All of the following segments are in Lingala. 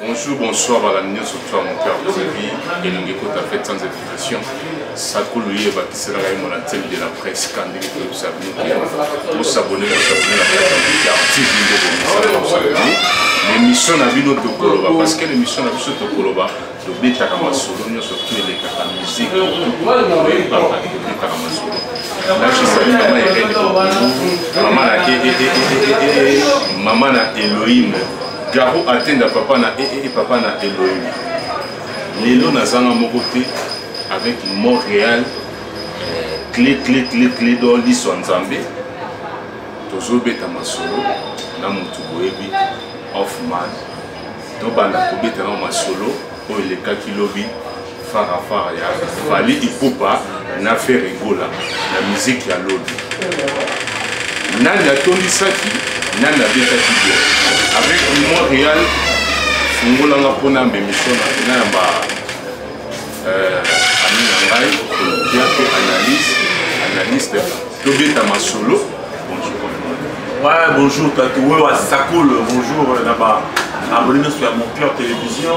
Bonjour, bonsoir à la Nyoso Toi, mon cœur TV, et nous écoute à fête sans invitation. Sakulu ye bakisela ngai mon antenne de la presse kandi ko sabuni ke ko sabuni ko sabuni la presse ya TV de ko sabuni l'émission na bino to koloba parce que l'émission na biso to koloba to betaka masolo nyoso to elekaka musique betaka masolo mama na elohim Garo atenda papa na ee eh, eh, papa na Elohim. Lelo nazanga moko te avec Montréal clé clé clé clé do liso nzambe tozobeta masolo na motu boyebi hoffman tobanda kobeta na masolo oyo elekaki lobi fara fara ya fali ipupa na fere gola na miziki ya lodi nani atondisaki nani abetaki bia avec limon real fungolanga mpona mbemiso na yamba euh, ami na ngai ya mpe analyse analyste tobeta masolo ouais bonjour tatu oyo asakolo bonjour euh, na ba abonne nyonso ya mon cœur télévision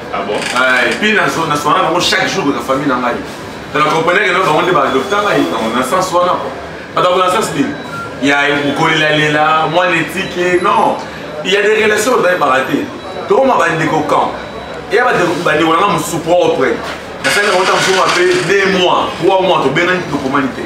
Ah bon? Ah, et puis, na zona soana bango chaque jour na famille na ngai. Na na comprenais que na bango nde ba adopta ngai na na sens wana quoi. Ba dans na sens nini? Ya kolela lela, moi n'éthique, non. Il y a des relations dans les baratés. Donc ma bande ko camp. Et ya ba de ba de wana musu propre. Na sala ko ta musu ma pe 2 mois, 3 mois to bena ni to komanite.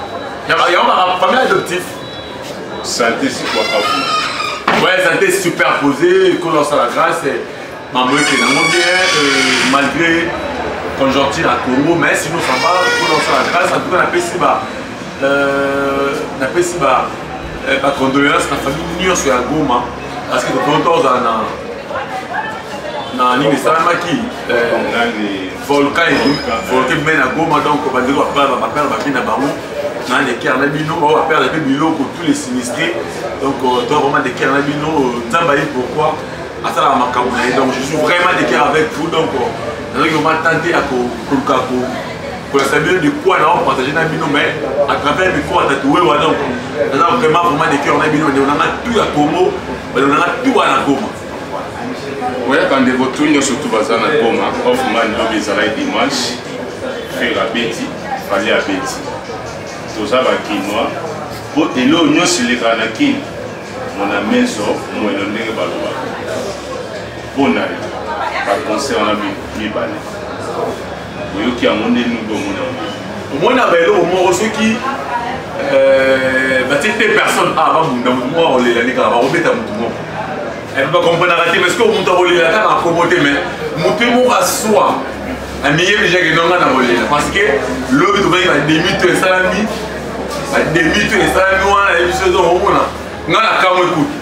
yango baka famille adoptif santé sikwakafu ouais santé superposé ekolo asala grâce eh. mambo ete nango bien eh, malgré conjoncture ya congo mais sino samba ekolo asala grâce en tout cas napesi ba euh, napesi ba eh, bacondoléance na famille nyonso ya goma parce que tokoki tozala na na nini esalamaki volcan volcan ebimai na goma donc bandeko bapere babi na bango na lekere na bino bango bapere mpe biloko tous les sinistre donc euh, toi vraiment lekere na bino euh, nzambe aye pourquoi asalaka makambo na ye donc je suis vraiment lekere avec vous donc euh, nazalaki vraiment tante ya koluka kolakisa bino de quoi nao partage na bino mais à travers micro atatue wa donc naza vraiment vraiment lekere na bino bandeko nanga tout ya congo bandeko nanga tout wana goma oya bandeko tu nyonso tu baza na goma hoffman lobi ezalaki dimanche frere abeti fali abeti toza bakinois mpo eloo nyonso elekaka na kini mona meso moelo ndenge balobaka mpo na ye baconcert na mibale oyoki yango nde nubi omona yango omona ba eloko moko soki euh, batie te personne a ah, babunda motu moko akolela nde kaka bakobeta motu moko eh, bakomprenaka te parce que motu akolela kaka akobo te mais motu ye moko aswa amiyebi jake nonga na kolela parce que lobi tobaki bademi to esalami bademi to esalami wana yebiso ezo omona nga na kamwe kutu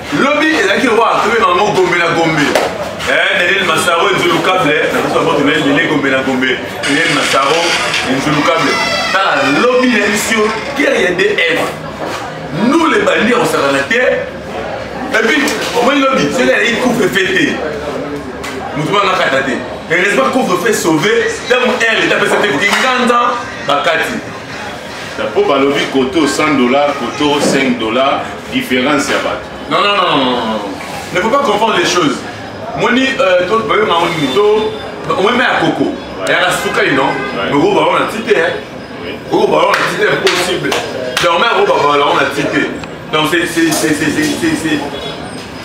lobi ezalaki lokola tobe bango gombe na gombe eh, daniel masaro enzulukable eh, na biso bango tona ebele gombe na gombe daniel masaro enzulukable tala lobi na biso guerre ya df nous les bandits akosakana te epuis omoni lobi soki aleki couvre fe te motu banga kata te heureusement couvre fe sauve ntango r leta apesa te koki nganza bakati po balobi koto 100 dollars koto 5 dollars différence ya bato non non non ne faut pas confondre les choses moni euh, toyonga ngo nini to omeme ya koko yaka suka ino moko bango na ti te koko bango na ti te impossible dorme yango babalao na ti te donc c'est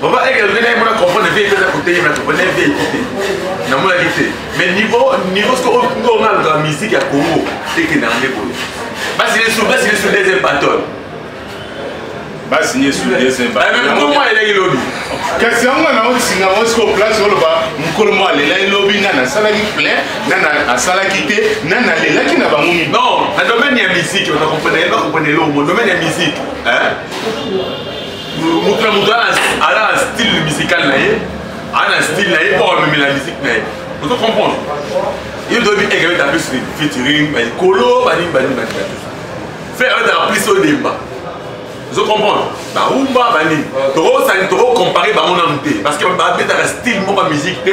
Papa Eke alobi naye mona comprendre vie epesa kote ye na comprendre vie ekite namonaki te mais niveau niveau siko oyo oh, nga alukaka musique ya Congo ekenda nde boye basi lesu basi lesu deuxième battle basi lesu deuxième battle ah, mokolo mwa eleki lobi kasi yango nga nango singa ngo siko place oloba mokolo mwa alelaki lobi nga nasalaki plein nga asalaki te nga nalelaki na bango mi non na domaine ya musique onakomprenele bakomprenele omo domaine ya musique moto na moto ala na style musical na ye aa na style na ye po amemela musique na ye ozo comprendre ye toyebi eke beta plus featuring balikolo banini banini banini frère abetaka plus odemba ozo comprendre barumba banini tokosani tokocompare bango nanu te parce que babetaka style moko ya musique te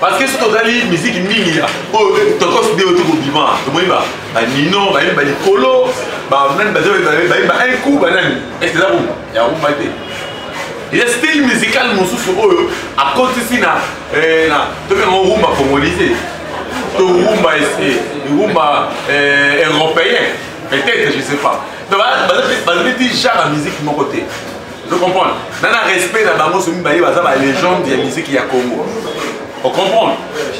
parce que soki tozali miziki mingi ya oyo eh, tokos de oyo tokobima tomoni banino bayembi balikolo banani bayemba un coup banani ese eza rumba ya rumba te ya style musical mosusu oyo akotisi na eh, tobenga rumba congolise to rumba rumba eh, européen peut-être je sais pas bazali ti genre ya musique moko te Vous comprenez Dans le respect de Bango, c'est une légende de la musique ya Congo. Vous comprenez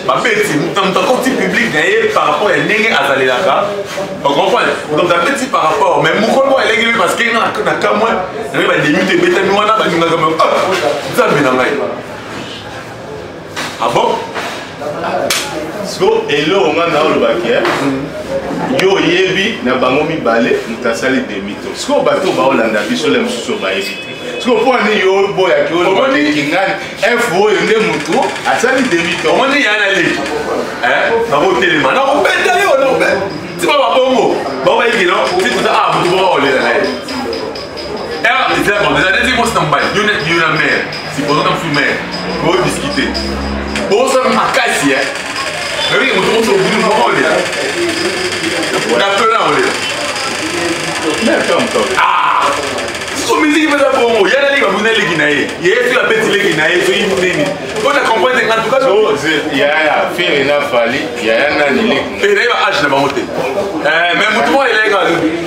babeti moto moto akoti publike na ye par rapport ya ndenge azalelaka ocomprendre moto moto abeti par rapport mais mokolo moko eleki lobi parce que nga na kamwe naye bademite ebetami wana balingaka nzambe na ngai Ah bon siko eloko ngai na olobaki eh? yo oyebi na bango mibale moto asali demito sikoyo bato baolanda biso le mosusu bayebi te sikoyo mpo ani yo oboyaki olobakingani f oyo nde motu asali demito omoni ya na leki bakotelema na kobeta yo na kobeta tima babongo baobayikino tikuta a motu moko olela na ye eza bon eza neti kosi na mobali yo neti yo na mare sipozo na mosu mare bodiscute bosala makasi e oyoki moto mosu obili moko olela na pena olela so miziki mpenza bongo ya naleki babuni eleki na ye ye soki abeti leki na ye soki nini mpo na comprendre nga tuka yaya fere na fali yaya nani leki na ye ba age na bango te eh, mais motu moko eleki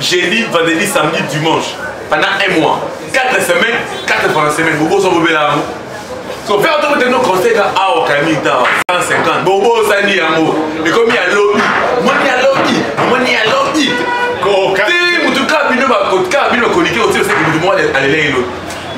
jeudi vendredi samedi dimanche pendant un mois 4 semaines 4 fois na semaine bobosa bobela yango so mpe otokotengo conseil ka awa kayami ntawa 150 bobosani yango ekomi ya lobi moni ya lobi moni ya lobi te motuka bino bakotika bino bakoliki otioseki motu moko alelei lobi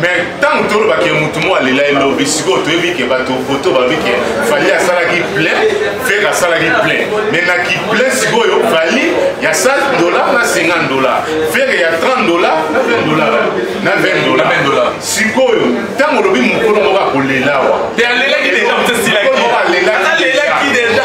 mais ntango tolobaka ke motu moko alela elobi sikoyo toyebi ke bato poto babi ke fali asalaki plein fere asalaki plein me na kiplein sikoyo fali ya 100 dollar na 50 dollar fere ya 30 dollar na 20 dollar na 20 dollar sikoyo ntango olobi mokolo moko akolelawa te alelaki deja moto esilaki alelaki deja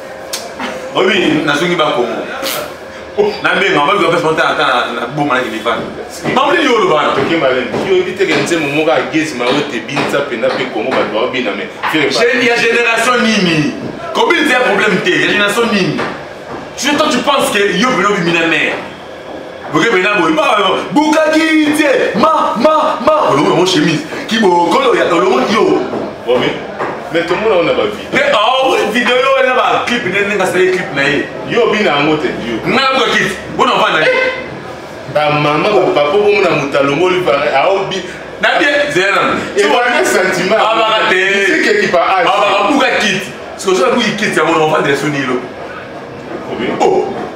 oyebi nazongi bakongo nabenga mabi bapesa mata ata na boma na kilifani mamlili yo olobana toke malene yo oyebi teke nzembo moko agezi mayo te binisa mpenza mpe kongo bato baobina me ya génération nini kobinisa ya problème te ya génération nini surtout tu penses que yo bino bimina mare bokebena boye bukaki te ma ma ma olongo yango chemise kibokolo ya olongo yo omi mais tomona ona bavideo mais aowe ah, video yo ena baclip nde ndenge asali clip na ye yo obina yango te yo ngai nabuka kiti mpo na vanda eh! bamama bapapa bomona moto alongoli aobi na bien zela ebana sentiment abaka te ekipa abaka buka kiti soki osala buki kiti yango na ovandela soni elo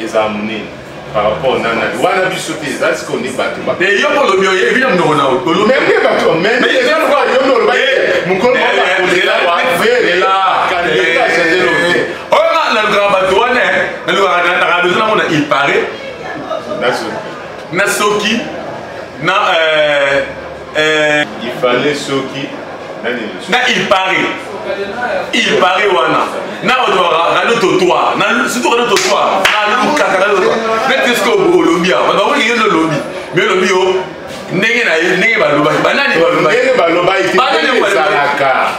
eza munene par rapport na nani wana biso te eza sikoyo nde bato ba eh, yo olobi oyebi na monoko na olobi mpe bato oyo nalukaka bato wana eh. nalukaka na radio nango na il parait na soki na euh, Euh, il fallait soki na il paraît il paraît wana na bato radio totoir surtout radio totoir nalukaka radio totoir neti eske olobi awa bato bakoki yende olobi me olobi yo ndenge na ye ndenge balobaki banani balobaki banani balobaki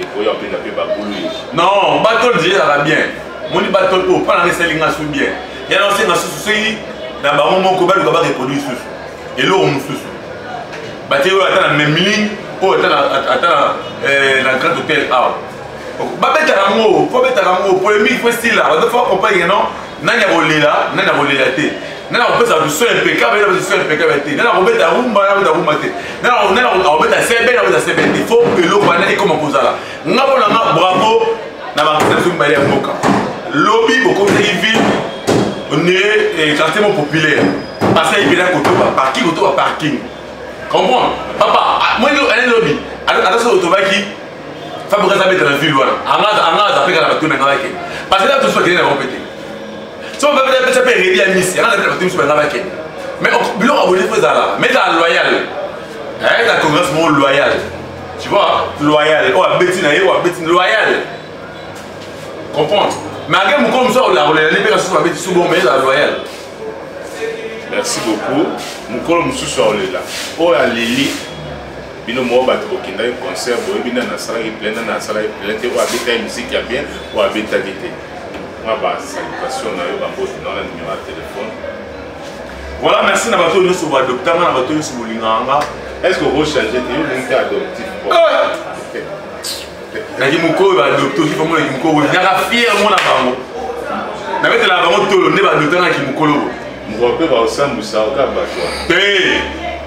ekoya mpe na mpe babulu non batol ezalaka bien moni batol oyo mpo nanga esali nga su bien yana osenga susu soki na bango moko baluka bareproduire susu eloko mosusu batie oyo ata na memling oyo ata na eh, grand hôtel awa babetaka yango mpo betaka yango polemique mpo esila bato fo accompagne non nani akolela nani akolela te nani akopesa bato soin impeccable nani akopesa soin impeccable te nani akobeta rumba nani akobeta rumba te nani akobeta sebe nani akobeta sebe te fo eloko wana ekoma kozala nga mpo na nga bravo na bakisa biso mibale ya mboka lobi bokomisaki ville ne eh, quartier mo populaire pasi ayi mpena kotoba parking kotoba parking comprendre papa ah, moi ane lobi ata soki otobaki fabrice aza beta na ville wana anga aza peka na bato na ngai bakende parce que na tosi bakende na bango pete so babe na pesa mpe redi ya misi anga na bato misu banga bakende mais biloko abonde mpo ezala mais ezala loyal na congrès moko loyal tu vois loyal oyo abeti na ye oyo abeti loyal comprendre mais age mokolo mosusu akolakolela ne mpe kasusu babeti subo mais ezala loyal merci beaucoup mokolo mosusu aolela oyo aleli bino moko bato bokendaki concert boyebi nani asalaki plein nani asalaki plein te oyo abetaki miziki ya bien oyo abetaki te mwa basalutation na yo bambote na wana nimero ya telefone voilà merci na bato nyonso baadoptanga na bato nyonso bolingaka nga est ce que okochange te yo olingi te adoptif naki mokolo baadopte oki famona ki mokolo boye naka fiere mona bango nabetelaka bango tolo nde baadoptanga ki mokolo boye mokolo mpe baosambwisa oka bato te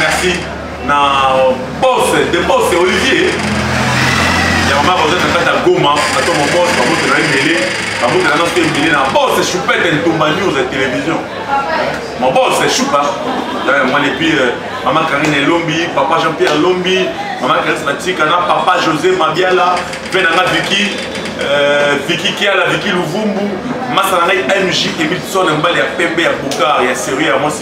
merci na boss de boss olivier ya mama baza na kati ya goma bato mobos bamoto na ebele bamoto na noso ebele na boss choupete ntumba news ya télévision mon boss choupa mwana epuis euh, mama karine elombi papa jean pierre elombi mama karine batika na papa josé mabiala mpe na nga viki Euh, Vicky Kiala, Vicky Luvumbu, Masanangai MJ, Emilson Mbali, ya Pembe, ya Bokar, ya Serie, ya Mwasi.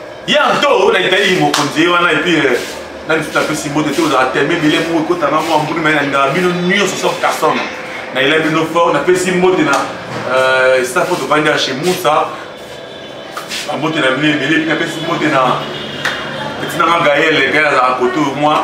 ya nto na italie mokonzi ye wana epuis euh, nani tuta apesi mbote te ozalaka teleme ebele moko ekotanga mwa mbuli mai nalingaka bino nyonso sauf carson nayela bino fort napesi mbote na euh, staff oyo tovandi ya chez musa bambote na bino ebele epuis napesi mbote na etinanga gaele gaele azalaka koto mwa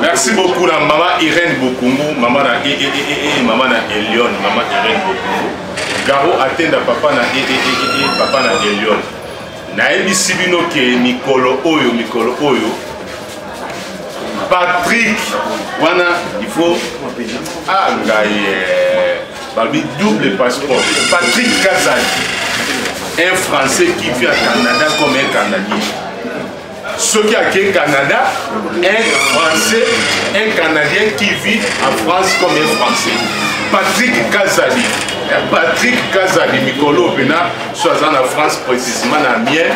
Merci beaucoup na maman Irène Bokungu, maman na e e e e, e maman na Elion, maman Irène Bokungu. Garo atenda papa na e e e e, e papa na Elion. Nayebisi bino ke mikolo oyo mikolo oyo Patrick wana il faut ah ngai eh, balobi double passeport Patrick Kazadi un français qui vit à Canada comme un Canadien soki ake canada un français un canadien qui vit en france comme un français patrick kazali eh, patrick kazali mikolo mpena so aza na france précisement na mien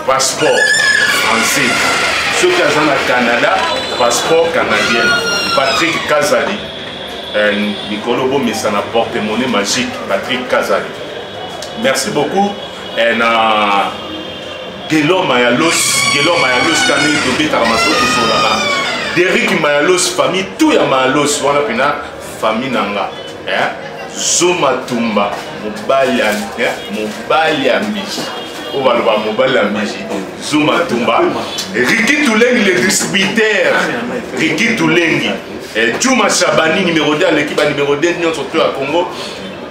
passeport français soki aza na canada passeport canadien patrick kazali eh, mikolo bomesana porte monnaie magique patrick kazali merci beaucoup eh, na Guelor Mayalos, Guelor Mayalos kande tobetaka masolo tosolaka. Derrick Mayalos famille tout ya Mayalos wana pena famille nanga. Hein? Zoma tumba mobali ya hein? mobali ya mbishi. Oyo baloba mobali ya mbishi. Zoma tumba. Ricky Tulengi le distributeur. Ricky Tulengi. Eh, Juma Shabani numéro 2 aleki ba numéro 2 nyonso to ya Congo.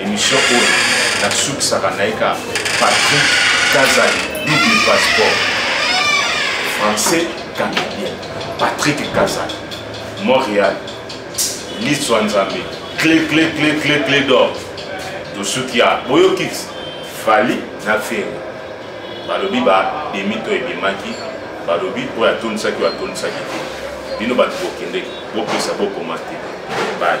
Emission oyo nasukisaka na ye ka Patrick Kazali double passeport français canadien Patrick Kazali Montréal liso ya Nzambe clé clé clé clé clé d'or tosuki ya boyoki Fally na Ferre balobi ba demi to ebimaki balobi oyo atondisaki oyo atondisaki te bino bato bokendeki bopesa bokoma te bye